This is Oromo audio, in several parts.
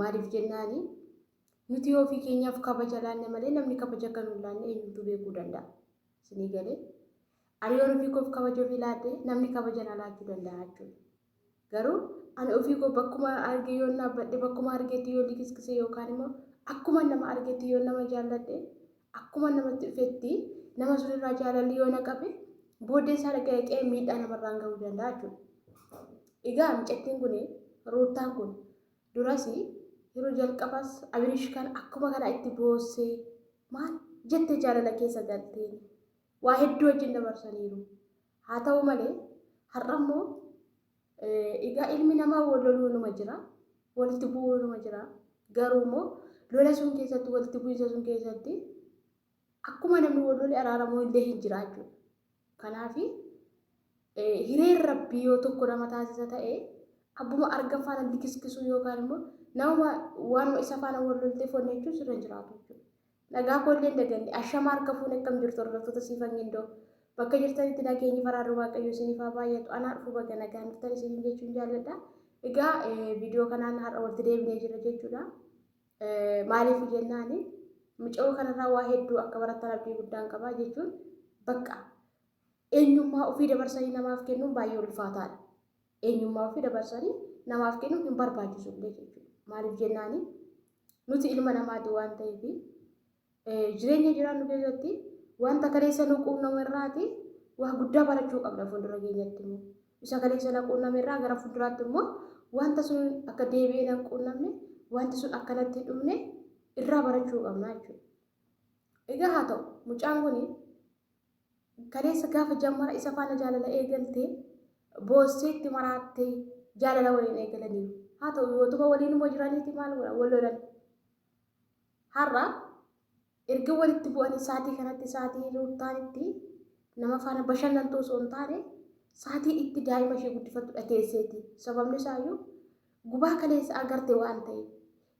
Maaliif jennaan nuti yoo ofii keenyaaf kabaja laanne malee namni kabaja akka nuun laanne eenyutu beekuu danda'a. Isinii galee ani yoon ofii koof kabaja ofii laadhe namni kabaja na laachuu danda'a jechuudha. Garuu ani ofii koo bakkuma arge yoon dhaabbadhe bakkuma argetti yoo likiskise yookaan immoo akkuma nama argetti yoon nama jaalladhe Akkuma namatti dhufetti nama sunirraa jaalalli yoo na qabe booddee isaa dhaqee dhaqee miidhaa namarraan gahuu danda'a jechuudha. Egaa micattiin kun ruuttaan kun duras yeroo jalqabas abirish kan akkuma kana itti boossee maal jette jaalala keessa galtee waa hedduu wajjin dabarsaniiru. Haa ta'u malee har'a immoo Egaa ilmi namaa wal loluunuma jira, walitti bu'uunuma jira. Garuu immoo lola sun keessatti, walitti bu'iinsa sun keessatti akkuma namni wal lole araaramuu illee hin jira jechuudha. Kanaaf hireen rabbii yoo tokko nama taasisa ta'e abbuma argan faana likiskisuu yookaan immoo nama waanuma isa faana wal lolteef wanni jechuun sirra hin jiraatu jechuudha. Nagaa koo illee hin daganne. Ashama harka fuune akkam jirtu hordoftoota Siifan Gindoo. Bakka jirtanitti nageenyi faraarri Waaqayyoo isiniif haa baay'atu. Anaa dhufu baga nagaan dhuftan isiniin jechuun jaalladha. Egaa viidiyoo kanaan har'a walitti deebinee jirra jechuudha. Maaliif jennaan mucayoo kanarraa waa hedduu akka barattan abdii guddaan qaba jechuun bakka eenyummaa ofii dabarsanii namaaf kennuun baay'ee ulfaataadha. Eenyummaa ofii dabarsanii namaaf kennuun hin barbaachisu illee jechuudha. Maaliif jennaan Nuti ilma namaati waan ta'eef jireenya jiraannu keessatti wanta kaleessa nu quunnamu irraati waa guddaa barachuu qabna fuuldura keenyatti immoo. Isa kaleessa na quunname irraa gara fuulduraatti immoo wanta sun akka deebi'ee na quunnamne wanti sun akkanatti hin dhumne irraa barachuu qabna jechuudha. Egaa haa ta'u mucaan kun Kaleessa gaafa jammara isa faana jaalala eegalte boossee itti maraattee jaalala waliin eegalaniiru. Haa ta'u yootuma waliin immoo jiraniiti maal godhan wal lolan. Har'a erga walitti bu'anii saatii kanatti saatii ruuttaan itti nama faana bashannantuu osoo hin taane saatii itti daa'ima ishee guddifattudha teesseeti. Sababni isaayyuu gubaa kaleessa agarte waan ta'e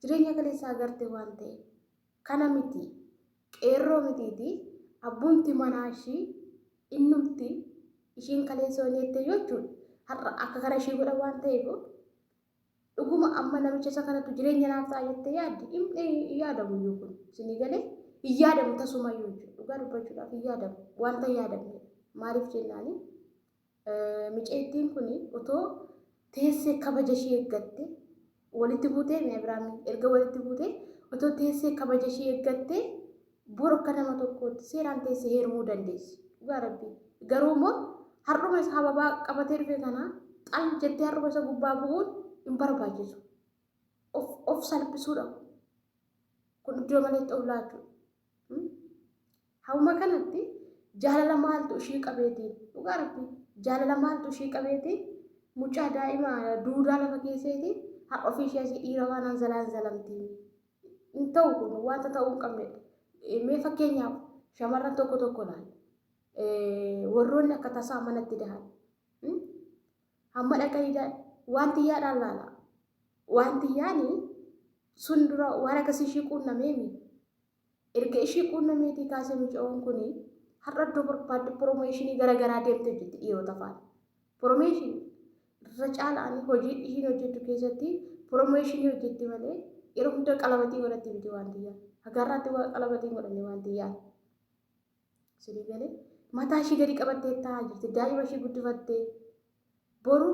jireenya kaleessa agarte waan ta'e Kana miti qeerroo mitiiti abbumti manaa ishii innumti ishiin kaleessa waan jettee jechuun har'a akka kana ishii godha waan ta'eef dhuguma amma namicha isa kanatu jireenya naaf ta'a jettee yaaddi hin yaadamu iyyuu kun isinii galee hin yaadamu tasuma iyyuu jechuudha dhugaa dubbachuudhaaf hin yaadamu wanta yaadamne maaliif jennaanii Micayittiin kun otoo teessee kabaja ishii eeggatte walitti buutee mi'a biraamii erga walitti buutee otoo teessee kabaja ishii eeggatte bor akka nama tokkootti seeraan teessee heerumuu dandeessi dhugaa rabbii garuu immoo har'uma isa hababaa qabatee dhufe kana xal jettee har'uma isa gubbaa bu'uun hin barbaachisu of of salphisuudha kun iddoo maleetti of laachuudha Hauma kanatti jaalala maaltu ishii qabeeti dhugaa rabbi jaalala maaltu ishii qabeeti mucaa daa'ima duudaa lafa keesseeti har ofii ishee asii dhiira waan anzalaan zalamti hin ta'u kun wanta ta'uu hin qabnedha mee fakkeenyaaf shamarran tokko tokko laal warroonni akka tasaa manatti dahan Hamma dhakka dhiigaa waan tiyyaadhaan laala. Waan tiyyaani sun dura waan akkasii ishii quunnameemi. Erga ishii quunnameetii kaasee mucayoon kun har'a iddoo barbaadde promooshinii gara garaa deemtee hojjetti dhiirota faana. Promooshinii irra caalaan hojii ishiin hojjettu keessatti promooshinii hojjetti malee yeroo hunda qalabatii godhatti miti waan tiyyaa. Hagaarraatti waan qalabatii godhanne waan tiyyaa. Sinii galee mataa ishii gadi qabattee taa'aa jirti. Daa'ima ishii guddifattee boru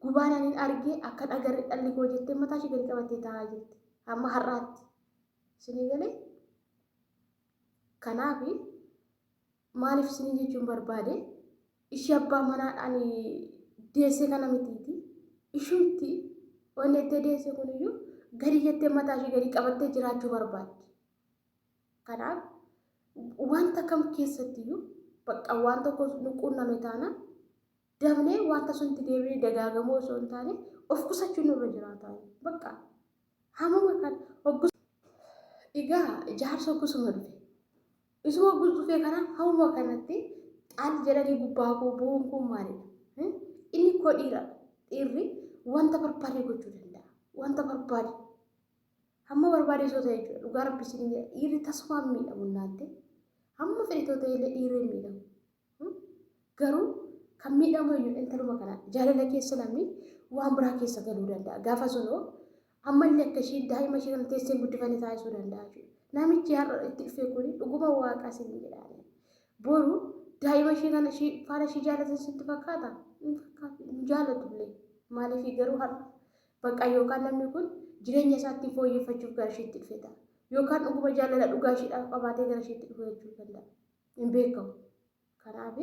gubaan anin argee akkan agarre dhalli koo jettee mataa ishii gadi qabattee taa'aa jirti. Amma har'aatti. Sinii galee kanaaf maaliif sinii jechuun barbaade ishii abbaa manaadhaan deessee kana mitiiti. Ishumti wanni itti deesse kuniyyuu gadi jettee mataa ishii gadi qabattee jiraachuu barbaaddi. Kanaaf wanta kam keessattiyyuu bakka waan tokko nu quunname taana dabnee wanta sunti deebi'ee dagaagamuu osoo hin taane of qusachuu nurra jiraata. Bakka hamuma kan hoggus egaa jaarsa hoggasuma dhufe. Isuma hoggus dhufee kana hamuma kanatti xaal jedhanii gubbaa koo bu'uun kun maalidha? Hmm? Inni koo dhiira. Dhiirri wanta barbaade gochuu danda'a. Wanta barbaade Hamma barbaade osoo ta'e jechuudha. Dhugaa rabbi isiniin jedha dhiirri tasumaa hin miidhamu innaatte. Hamma fedhe too ta'e illee dhiirri hin miidhamu. Hmm? Garuu kan miidhamu eenyu intaluma kana jaalala keessa namni waan biraa keessa galuu danda'a. Gaafa sunoo ammallee akka ishiin daa'ima ishii kana teessee hin guddifanne taasisuu danda'a jechuudha. Namichi har'a itti dhufee kun dhuguma waaqa isiniin jedhaani. Boru daa'ima ishii kana ishii faana ishii jaalatan sitti fakkaata? Hin fakkaatu. Hin jaalatullee. Maaliif garuu har'a Bakka yookaan namni kun jireenya isaa ittiin fooyyeffachuuf gara ishiitti dhufe ta'a. Yookaan dhuguma jaalala dhugaa ishiidhaaf qabaatee gara ishiitti dhufe jechuun danda'a. Hin beekamu. Kanaaf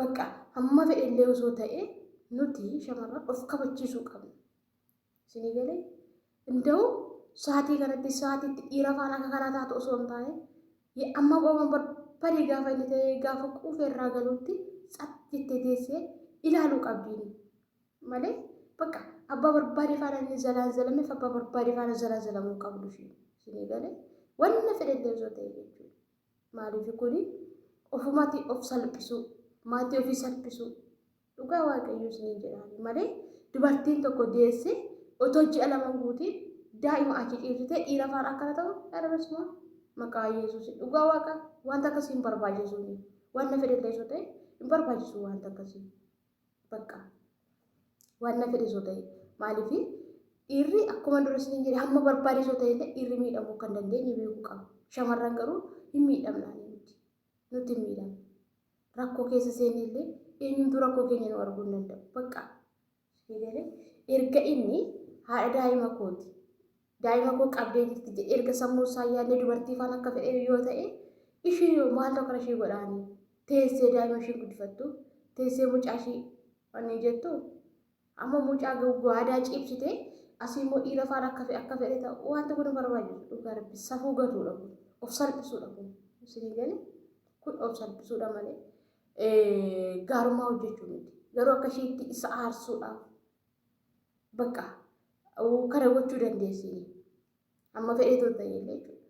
bakka hamma fedhe illee osoo ta'e nuti shamarran of kabachiisuu qabna. Isinii galee? Inda'u sa'aatii kanatti sa'aatiitti dhiira faana akka kanaa taatu osoo hin taane amma waan barbaade gaafa inni ta'e gaafa quufe irraa galuutti tsat jettee teessee ilaaluu qabdiin. malee bakka abbaa barbaade faana inni zalaan zalameef abbaa barbaade faana zalaa zalamuu qabdu fi isinii galee wanna fedhellee osoo ta'e jechuudha. Maaliif kuni ofumati of salphisuu maatii ofii salphisuu dhugaa waaqayyo isinii jedhaani malee dubartiin tokko deessee otoo ji'a lama guutiin daa'ima achi ciibsitee dhiira faana akkana ta'u dharabasuma maqaa yesuus dhugaa waaqa wanta akkasii hin barbaachisuu wanna fedhellee osoo ta'e hin barbaachisuu wanta akkasii. bakka waan na fedhe soo ta'e maaliif dhiirri akkuma dura isiniin jedhe hamma barbaade soo ta'e illee dhiirri miidhamuu akka hin dandeenye beekuu qaba. Shamarran garuu hin miidhamna nuti nuti hin miidhamna. Rakkoo keessa seenne illee eenyumtuu rakkoo keenya nu arguu hin danda'u. Bakka erga inni haadha daa'ima kooti Daa'ima koo qabdee jirti jedhe erga sammuu isaa yaadne dubartii faana akka fedhe yoo ta'e ishee yoo maal tokko ishee godhaani teessee daa'ima ishee guddifattu teessee mucaa ishee wanni jettu amma mucaa gawwaadaa ciibsitee asii immoo dhiira faana akka fedhe akka fedhe ta'u wanti kun barbaachisu dhugaa rabbi safuu gatuudha kun of salphisuudha kun isinii gale kun of salphisuudha malee gaarummaa hojjechuu miti garuu akka isheetti isa aarsuudhaaf Bakka kana gochuu dandeessini. Amma fedhee too ta'e illee jechuudha.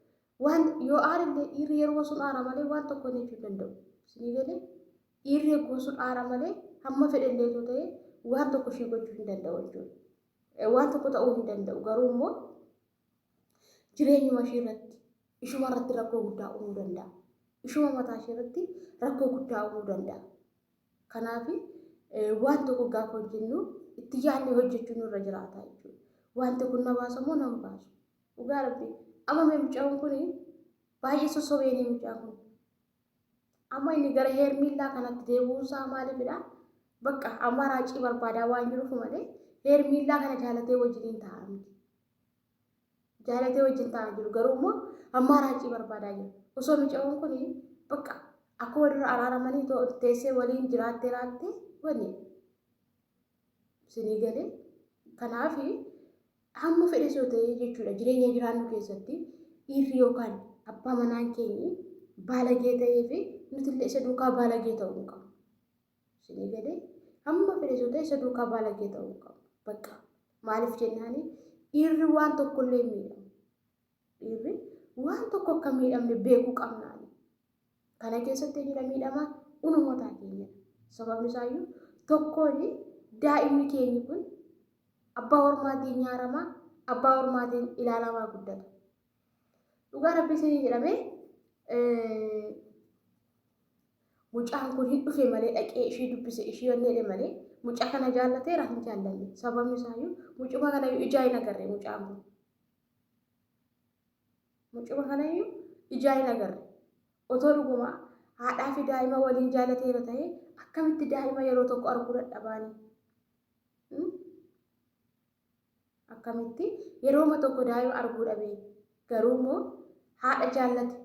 Waan yoo aarillee dhiirri yeroo sun aara malee waan tokko inni jechuu danda'u. Isinii galee dhiirri yeroo sun aara malee hamma fedhe illee too ta'e waan tokko ishii gochuu hin danda'u jechuudha. Waan tokko ta'uu hin danda'u garuu immoo jireenyuma ishii irratti ishuma irratti rakkoo guddaa uumuu danda'a. Ishuma mataa ishii irratti rakkoo guddaa uumuu danda'a. Kanaaf waan tokko gaafa hojjennu itti yaadnee hojjechuun nurra jiraata jechuudha. Wanti kun na baasa moo nan baasu? Dhugaa rabbii amma mee mucaan kun baay'ee sossobeenii mucaa kun. Amma inni gara heermiillaa kanatti deebi'uun isaa maaliifidha? Bakka amma raacii barbaadaa waan jiruuf malee heermiillaa kana jaalatee wajjiniin taa'aa miti. jaalatee wajjin ta'aa jiru garuu immoo ammaa raacii barbaadaa jiru osoo micaa'uun kun bakka akkuma dura araaramanii teessee waliin jiraattee laaltee wani sinii galee kanaaf hamma fedhe soo ta'ee jechuudha jireenya jiraannu keessatti dhiirri yookaan abbaa manaan keenyi baalagee ta'ee fi nutillee isa duukaa baalagee ta'uu hin qabu. Isinii galee? Hamma fedhe yoo ta'e isa duukaa baalagee ta'uu hin qabu. Bakka maaliif jennaani dhiirri waan tokko illee hin miidhamu. Dhiirri waan tokko akka hin miidhamne beekuu qabnaani. Kana keessatti eenyudha miidhamaa? Unumataa keenyadha. Sababni isaayyuu tokkoon daa'imni keenyi kun abbaa hormaatiin nyaaramaa, abbaa hormaatiin ilaalamaa guddata. Dhugaa rabbii isinii jedhamee Mucaan kun hin dhufe malee dhaqee ishii dubbise ishii onneedhe malee mucaa kana jaallateera hin jaallanne sababni isaayyuu mucuma kanayyuu ijaa hin agarre mucaan kun mucuma kanayyuu ijaa hin agarre otoo dhuguma haadhaa fi daa'ima waliin jaallateera ta'e akkamitti daa'ima yeroo tokko arguu dadhabaanii Akkamitti? Yerooma tokko daa'ima arguu dhabe. Garuu immoo haadha jaallate.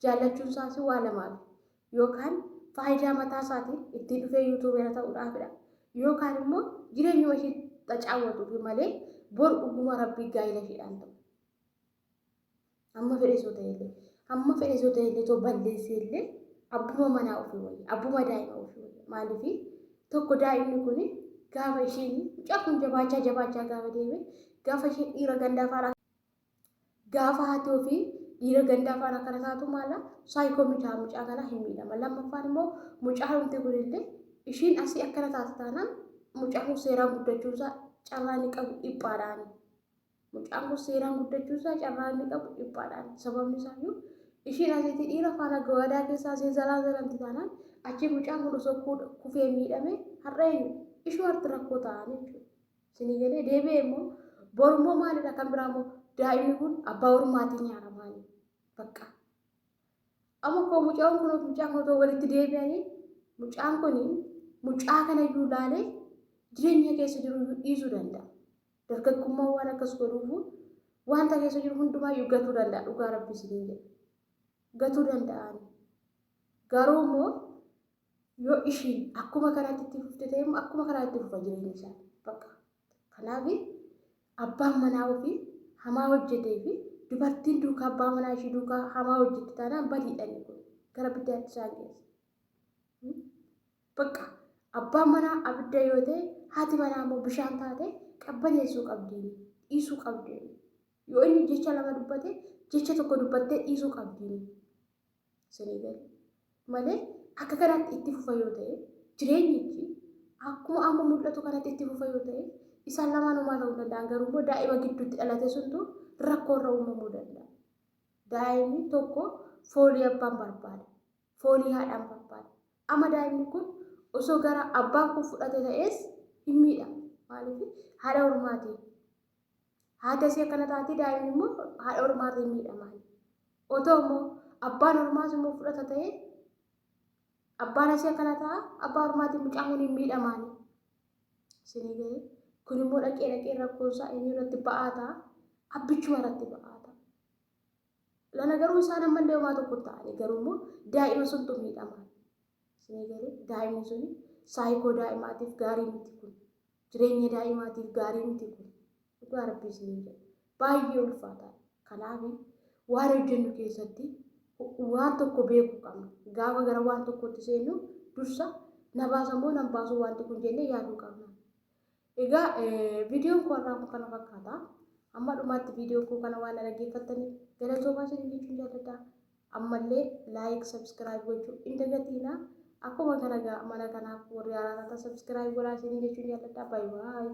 Jaallachuun isaas waa lamaafi. Yookaan faayidaa mataa isaatiin ittiin dhufee yuutuubeera ta'uudhaafidha. Yookaan immoo jireenyuma ishii xacaawwatuufi malee bor dhuguma Rabbii gaa'ila ishiidhaan ta'u. Amma fedhe soo ta'e illee amma fedhe soo ta'e illee too balleessee illee abbuma manaa ofii wayya abbuma daa'ima ofii wayya maaliif tokko daa'imni kun gaafa isheen mucaa kun jabaachaa jabaachaa gaafa deeme gaafa isheen dhiira gandaa faana gaafa haati ofii dhiira gandaa faana kana taatu maala saayikoo miidhaa mucaa kana hin miidhama lammaffaan immoo mucaa humti kun illee ishiin asii akkana taate taanaan mucaa kun seeraan guddachuunsaa carraa ni qabu dhiphaadhaani. Mucaan kun seeraan guddachuu isaa carraa inni qabu dhiphaadhaan sababni isaa iyyuu ishiin asitti dhiira faana gawaadaa keessa asii zalaa zalanti taanaan achi mucaan kun osoo kufee miidhame har'a eenyu ishuu harti rakkoo ta'an jechuudha. Isinii galee deebi'ee immoo boru immoo maalidha kan biraa immoo daa'imni kun abbaa ormaatiin nyaara maali bakka. Amma koo mucaan kun mucaan kun otoo walitti deebi'anii mucaan kun mucaa kana iyyuu laalee jireenya keessa jiru iyyuu dhiisuu danda'a. Dargaggummaan waan akkas godhuufu wanta keessa jiru hundumaayyuu gatuu danda'a dhugaa rabbi isiniin jedha. Gatuu danda'aani. Garuu immoo yoo ishiin akkuma kanaatti itti fufte ta'e immoo akkuma kanaa itti fufa jireenya isaa. Bakka. Kanaaf abbaan manaa ofii hamaa hojjetee fi dubartiin duukaa abbaa manaa ishii duukaa hamaa hojjette taanaan badiidhaan kun gara biddaatti isaan geessa. Baqqa! Abbaan manaa abidda yoo ta'e, haati manaa immoo bishaan taatee qabbaneessuu qabdi, dhiisuu qabdi. Yoo inni jecha lama dubbate, jecha tokko dubbattee dhiisuu qabdi. Isinii gale. Malee akka kanaatti itti fufa yoo ta'e, jireenyichi akkuma amma mul'atu kanatti itti fufa yoo ta'e, isaan lamaan homaa ta'uu danda'an garuu immoo daa'ima gidduutti dhalate suntu rakkoo irra uumamuu danda'a. Daa'imni tokko foolii abbaan barbaada. foolii haadhaan barbaada. Amma daa'imni kun osoo gara abbaa koo fudhate ta'ees hin miidhamu. Maaliif haadha hormaatiin haati asii akkana taati daa'imni immoo haadha hormaatiin miidhamaa. Otoo immoo abbaan hormaas immoo fudhata ta'ee abbaan asii akkana ta'a abbaa hormaatiin mucaan kun hin miidhamaan. Isinii galee kun immoo dhaqee dhaqee rakkoonsaa eenyu irratti ba'aa ta'a abbichuma irratti ba'aa ta'a. Lala garuu isaan ammallee homaa tokko hin ta'anii garuu immoo daa'ima suntu miidhama. Isinii galee daa'imni suni saayikoo daa'imaatiif gaarii miti kun. Jireenya daa'imaatiif gaarii miti kun. Dhugaa rabbii isinii jedha. Baay'ee ulfaataa. Kanaaf waan hojjennu keessatti waan tokko beekuu qabna. Gaafa gara waan tokkootti seennu dursa na baasa moo nan baasuu wanti kun jennee yaaduu qabna. Egaa viidiyoon koo har'aa kun kana fakkaata. Amma dhumaatti viidiyoo koo kana waan dhaggeeffattaniif galatoomaa isin jechuun jaalladha. Ammallee laayik sabskiraayib gochuu hin dagatiina. Akkuma kana egaa mana kanaaf warri haaraa taatan sabskiraayib godhaa isin jechuun jaalladha. Baay'ee baay'ee.